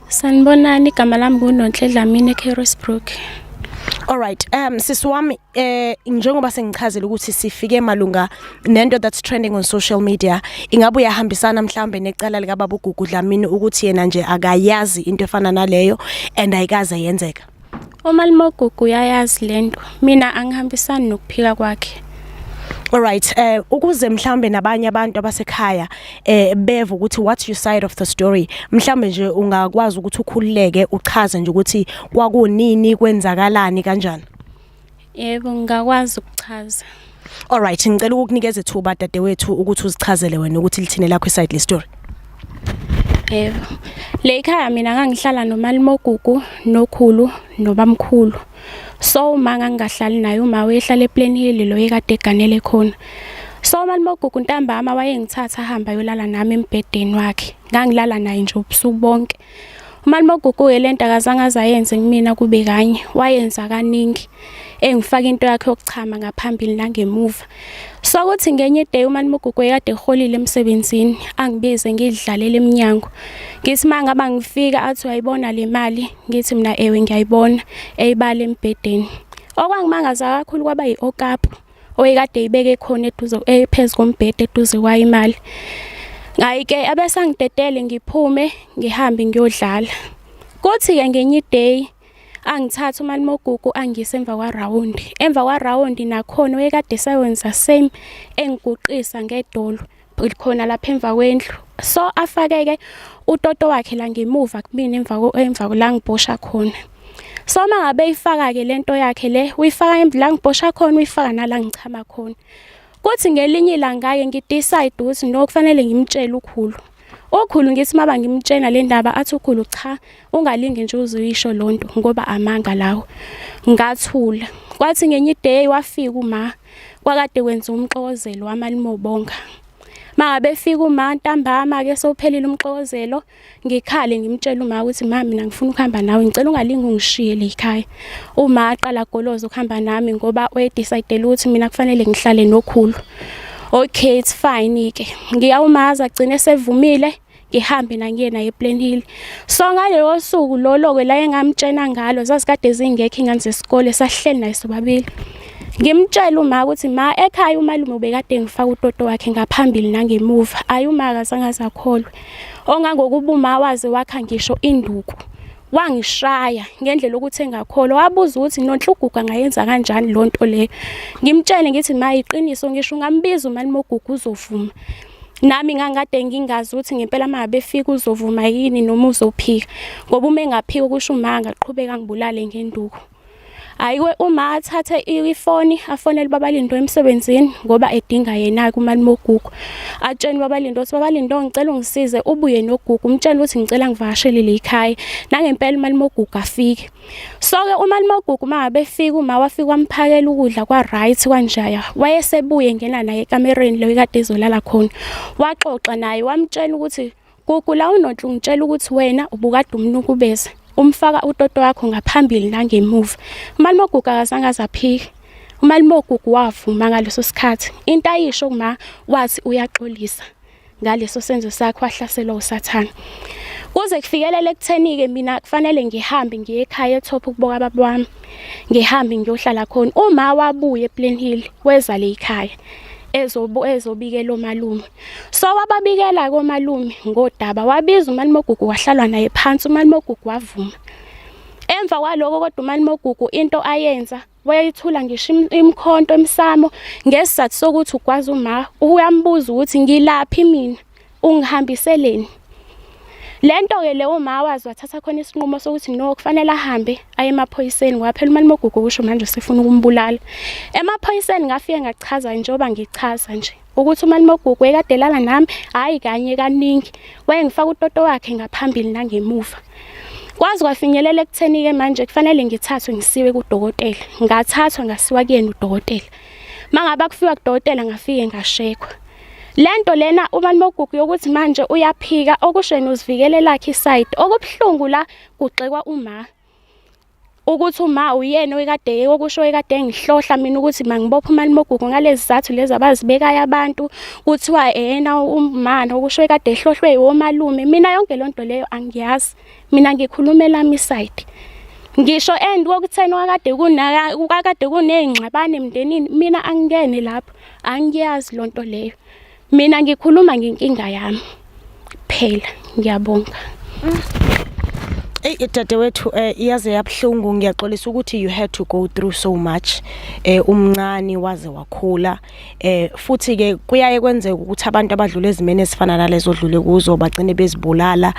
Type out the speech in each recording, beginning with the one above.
Sanibonani igama lami nguNonhle Dlamini eCarrisbrook. Alright um sisi wami eh njengoba sengichazile ukuthi sifike malunga nento that's trending on social media ingabe uyahambisana mhlawumbe necala lika babugugu Dlamini ukuthi yena nje akayazi into efana naleyo and ayikaze yenzeka umalimogugu uyayazi lento mina angihambisani nokuphika kwakhe Alright eh ukuze mhlambe nabanye abantu abasekhaya eh beve ukuthi what's your side of the story mhlambe nje ungakwazi ukuthi ukhululeke uchaze nje ukuthi kwakunini kwenzakalani kanjani Yebo ngingakwazi ukuchaza. Alright ngicela ukukunikeza ithuba dadewethu ukuthi uzichazele wena ukuthi lithini lakho iside le story. Yebo. Le ikhaya mina ngangihlala nomalimogugu nokhulu nobamkhulu. So uma ngangingahlali naye uma wehlala ePlain Hill lo ekade eganele khona. So malimogugu ntambama wayengithatha ahamba yolala nami embhedeni wakhe. Ngangilala naye nje ubusuku bonke. umalume oguquke lento akazange azayenze kumina kube kanye wayenza kaningi engifaka into yakhe yokuchama ngaphambili nangemuva so kuthi ngenye day umalume oguquke kade eholile emsebenzini angibize ngidlalele eminyango ngithi manga bangifika athi uyayibona le mali ngithi mina ewe ngiyayibona eyibala embhedeni okwangimangaza kakhulu kwaba yi-okapu oyekade ibeke khona eduze ephezu kombhede eduze kwayo imali ngayike abesangidedele ngiphume ngihambe ngiyodlala kuthi ke ngenye day angithatha umali mogugu angise emva kwa round emva kwa round nakhona oyekade sawenza same engiguqisa ngedolo likhona lapha emva kwendlu so afakeke utoto wakhe la ngemuva kumina emva emva la ngibhosha khona so uma ngabe ifaka-ke le nto yakhe le uyifaka la ngibhosha khona uyifaka nala ngichama khona kuthi ngelinye ilanga-ke ngidecide ukuthi no kufanele ngimtshele ukhulu ukhulu ngithi uma bangimtshela le ndaba athi ukhulu cha ungalingi nje uzuyisho lonto ngoba amanga lawo ngathula kwathi ngenye iday wafika uma kwakade kwenza umxokozelo wamalimobonga makabefika uma ntambama ke sophelile umxokozelo ngikhale ngimtshela uma ukuthi mama mina ngifuna ukuhamba nawe ngicela ungalingi ungishiye le ekhaya uma aqala goloza ukuhamba nami ngoba uyedecidele ukuthi mina kufanele ngihlale nokhulu okay it's fine ke ngiyawumaza gcine sevumile ngihambe nangiyena ePlain Hill so ngaleyo suku lolo-ke la engamtshena ngalo zazikade zingekho ingane zesikole sahleli naye sobabili ngimtshela uma ukuthi ma ekhaya umalume ubekade ngifaka utoto wakhe ngaphambili nangemuva ayi uma akazange azakholwe ongangokuba uma waze wakha ngisho induku wangishaya ngendlela ukuthi engakholwa wabuza ukuthi nonhlugugu angayenza kanjani lo nto leyo ngimtshele ngithi ma iqiniso ngisho ungambiza umani mogugu uzovuma nami ngangikade ngingazi ukuthi ngempela uma befika uzovuma yini noma uzophika ngoba uma engaphika ukusho uma angaqhubeka ngibulale ngenduku Hayiwe uma athathe ifoni afonele babalindo emsebenzini ngoba edinga yena kumali mogugu. Atsheni babalindo ukuthi babalindo ngicela ungisize ubuye nogugu umtshela ukuthi ngicela ngivakashele lekhaya. Nangempela imali mogugu afike. So ke uma limogugu uma befika uma wafika wamphakela ukudla kwa right kwanjaya. Wayesebuye ngena naye ekamereni leyo kade izolala khona. Waxoxa naye wamtshela ukuthi Gugu la unonhle ungitshela ukuthi wena ubukade umnukubeza umfaka utoto wakho ngaphambili nangemuva. Umalume ogugu akazange azaphike. Umalume ogugu wavuma ngaleso sikhathi. Into ayisho kuma wathi uyaxolisa ngaleso senzo sakhe wahlaselwa usathane. Kuze kufikelele ekutheni-ke mina kufanele ngihambe ngiye ekhaya eThopha ukuboka baba wami. Ngihambe ngiyohlala khona. Uma wabuye ePlain Hill weza le ekhaya ezobikela omalume. So wababikela komalume ngodaba wabiza umalimogugu wahlalwa naye phansi umalimogugu wavuma. Emva kwaloko kodwa umalimogugu into ayenza wayeyithula ngisho imkhonto emsamo ngesizathu sokuthi ugwaza uma uyambuza ukuthi ngilaphi mina ungihambiseleni lento ke leyo uma wazi wathatha khona isinqumo sokuthi no kufanele ahambe aye emaphoyiseni waphela imali mogugu kusho manje sifuna ukumbulala emaphoyiseni ngafike ngachaza njengoba ngichaza nje ukuthi umalume ogugu wekadelala nami hhayi kanye kaningi wayengifaka utoto wakhe ngaphambili nangemuva kwazi kwafinyelela ekutheni-ke manje kufanele ngithathwe ngisiwe kudokotela ngathathwa ngasiwa kuyena udokotela uma ngabe akufiwa kudokotela ngafike ngashekwa le nto lena umalume ogugu yokuthi manje uyaphika okusheni uzivikelelakhe isayidi okubuhlungu la kugxekwa uma ukuthi uma uyena oyikade okusho oyikade engihlohla mina ukuthi mangibophe umalimogugu ngalezi zizathu lezi abazibekayo abantu kuthiwa eyena umana okusho oyikade ehlohlwe yiwomalume mina yonke loo nto leyo angiyazi mina ngikhulumela mi side ngisho and kokutheni wakade kunaka kukade kunezingxabane emndenini mina angikene lapho angiyazi lonto leyo Mina ngikhuluma ngenkinga yami kuphela ngiyabonga Ey dadewethu eh iyaze yabhlungu ngiyaxolisa ukuthi you had to go through so much eh umncane waze wakhula eh futhi ke kuyaye kwenzeka ukuthi abantu abadlula ezimene ezifana nalezo dlule kuzo bagcine bezibulala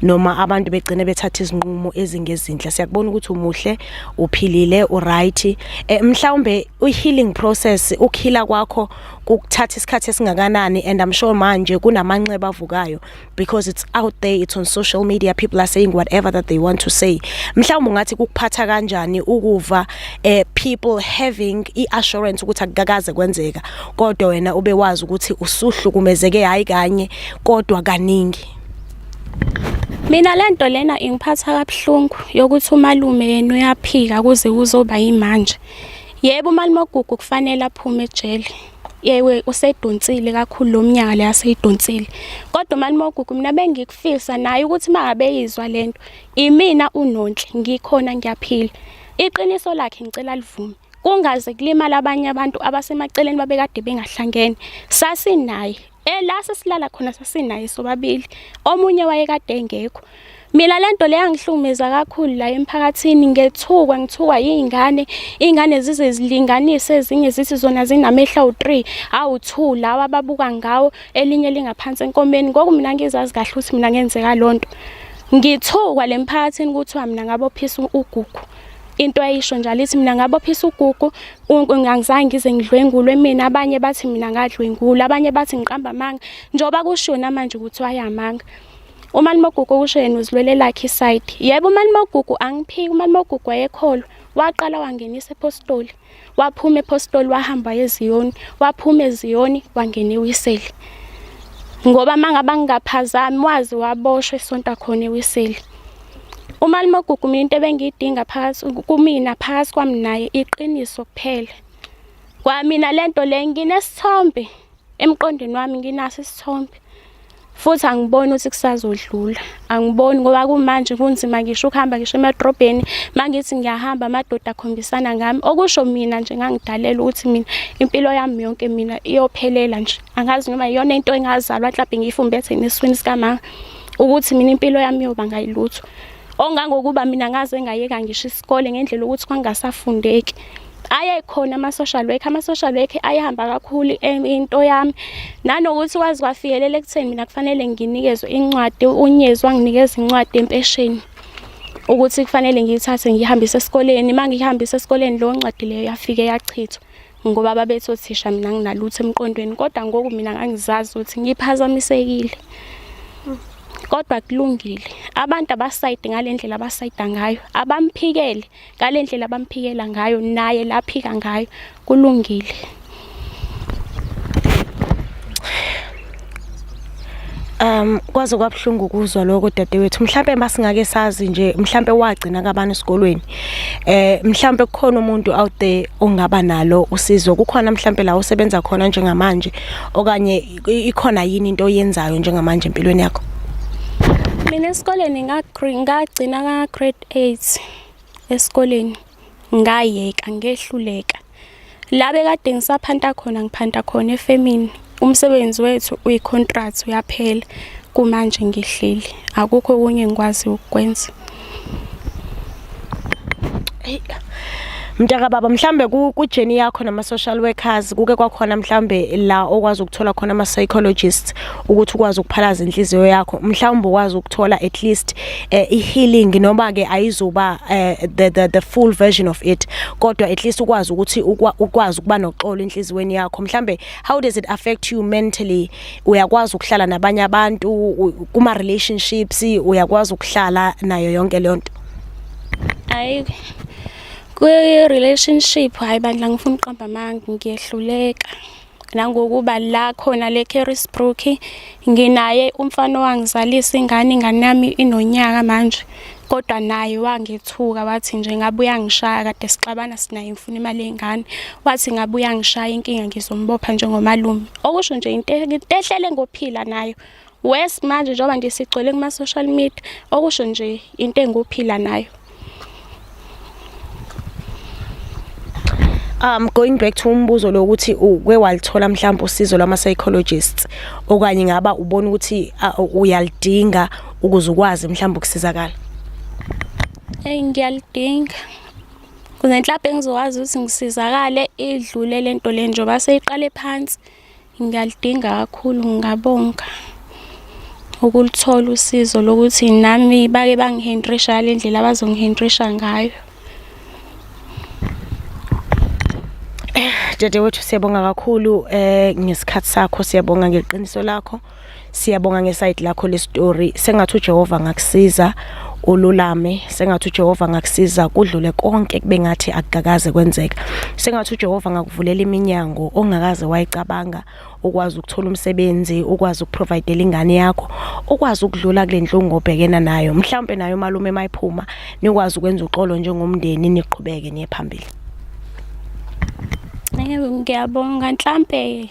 noma abantu begcine bethatha izinqumo ezingezinhle siyakubona ukuthi umuhle uphilile uright eh mhlawumbe uhealing process ukuhila kwakho kukuthatha isikhathi esingakanani and i'm sure manje kunamanxeba avukayo because it's out there it's on social media people are saying whatever that they want to say mhlawumbe ungathi kukuphatha kanjani ukuva eh, people having i-assurance ukuthi akukakaze kwenzeka kodwa wena ube wazi ukuthi usuhlukumezeke hayi kanye kodwa kaningi Mina lento lena ingiphatha kabuhlungu yokuthi umalume yena uyaphika kuze kuzoba yimanje. Yebo uMalimogugu kufanele aphume ejele. Yewe usedonsile kakhulu lo mnyaka le aseyidonsile. Kodwa uMalimogugu mina bengikufisa naye ukuthi mangabe yizwa lento. Imina unonhle ngikhona ngiyaphila. Iqiniso lakhe ngicela livume. Kungaze kulimala abanye abantu abasemaceleni babekade bengahlangene. Sasinaye Eh la sesilala khona sasinaye sobabili. Omunye wayekade engekho. Mina lento le yangihlumeza kakhulu la emphakathini ngethukwa ngithukwa izingane izingane zize zilinganise ezinye zithi zona zinamehla u3 awu2 lawa ababuka ngawo elinye lingaphansi enkomeni ngoku mina ngizazi kahle ukuthi mina ngenzeka lonto ngithukwa lemphakathini kuthiwa mina ngabophisa ugugu into ayisho njalo ithi mina ngabophisa ugugu angizange ngize ngidlwengulwe mina abanye bathi mina ngadlwengula abanye bathi ngiqamba amanga njengoba kushona manje ukuthi wayamanga umalimogugu kusho yena uzilwele lakhe isayidi yebo umalimogugu angiphiki umalimogugu wayekholwa waqala wangenisa ephostoli waphuma ephostoli wahamba eziyoni waphuma eziyoni wangena ewiseli ngoba mangabe angingaphazami wazi waboshwa esonta khona ewiseli umalimogugu mina into ebengiyidinga phakathi kumina phakathi kwami naye iqiniso kuphela kwamina le nto le nginesithombe emqondweni wami nginaso isithombe futhi angiboni ukuthi kusazodlula angiboni ngoba kumanje kunzima ngisho ukuhamba ngisho emadrobheni mangithi ngiyahamba amadoda akhombisana ngami okusho mina nje ngangidalela ukuthi mina impilo yami yonke mina iyophelela nje angazi noma iyona into engazalwa mhlawumbe ngiyifumbethe neswini sikamama ukuthi mina impilo yami yoba ngayilutho ongangokuba mina ngaze ngayeka ngisho isikole ngendlela ukuthi kwangasafundeki ayekhona ama-social work ama-social work ayehamba kakhulu into yami nanokuthi kwazi kwafikelela ekutheni mina kufanele nginikezwe incwadi unyezi wanginikeza incwadi empesheni ukuthi kufanele ngiyithathe ngiyihambise esikoleni uma ngiyihambise esikoleni leyo ncwadi leyo yafike yachithwa ngoba babethi othisha mina nginalutho emqondweni kodwa ngoku mina ngangizazi ukuthi ngiphazamisekile kodwa kulungile abantu abasayide ngalendlela abasayida ngayo abamphikele ngalendlela abamphikela ngayo naye laphika ngayo kulungile Um kwaze kwabuhlungu ukuzwa lokho dadewethu mhlambe masingake sazi nje mhlambe wagcina kabani esikolweni eh mhlambe kukhona umuntu out there ongaba nalo usizo kukhona mhlambe la usebenza khona njengamanje okanye ikhona yini into oyenzayo njengamanje empilweni yakho mina esikoleni ngagcina ka grade 8 esikoleni ngayeka ngehluleka La bekade ngisaphanta khona ngiphanta khona efemini umsebenzi wethu uyi-contract uyaphela kumanje ngihleli akukho okunye ngikwazi ukukwenza mntaka baba mhlambe kujeni yakho nama-social workers kuke kwakhona mhlambe la okwazi ukuthola khona ama-psychologists ukuthi ukwazi ukuphalaza inhliziyo yakho mhlawumbe ukwazi ukuthola at least eh, i-healing noma ke ayizuba eh, the, the, the full version of it kodwa at least ukwazi ukuthi ukwazi ukuba noxolo enhliziyweni yakho mhlambe how does it affect you mentally uyakwazi ukuhlala nabanye abantu kuma relationships uyakwazi ukuhlala nayo yonke leyo nto ayi kwi relationship hayi bandla ngifuna uqamba amanga ngiyehluleka nangokuba la khona le Carisbrook nginaye umfana owangizalisa ingane ingane yami inonyaka manje kodwa naye wangethuka wathi nje ngabe uyangishaya kade sixabana sinaye ngifuna imali yengane wathi ngabe uyangishaya inkinga ngizombopha njengomalume okusho nje into ehlele ngophila nayo Wes manje njengoba nje sigcwele kuma social media okusho nje into enguphila nayo. Um going back to umbuzo lo ukuthi uke walithola mhlawumbe usizo lwama psychologists okanye ngaba ubona ukuthi uyalidinga ukuze ukwazi mhlawumbe ukusizakala. Hey ngiyalidinga. Kunenhlapho engizowazi ukuthi ngisizakale idlule lento le njengoba seyiqale phansi. Ngiyalidinga kakhulu ngingabonga ukulithola usizo lokuthi nami bake bangihentrisha ngale ndlela abazongihentrisha ngayo. Dadewethu siyabonga kakhulu eh ngesikhathi sakho siyabonga ngeqiniso lakho. Siyabonga ngesayidi lakho le story sengathi uJehova angakusiza ululame sengathi uJehova ngakusiza kudlule konke kube ngathi akukakaze kwenzeka sengathi uJehova ngakuvulela iminyango ongakaze wayicabanga ukwazi ukuthola umsebenzi ukwazi ukuprovidela ingane yakho ukwazi ukudlula kule nhlungu obhekena nayo mhlawumbe nayo malume mayiphuma nikwazi ukwenza uxolo njengomndeni niqhubeke niye phambili Yebo ngiyabonga mhlampe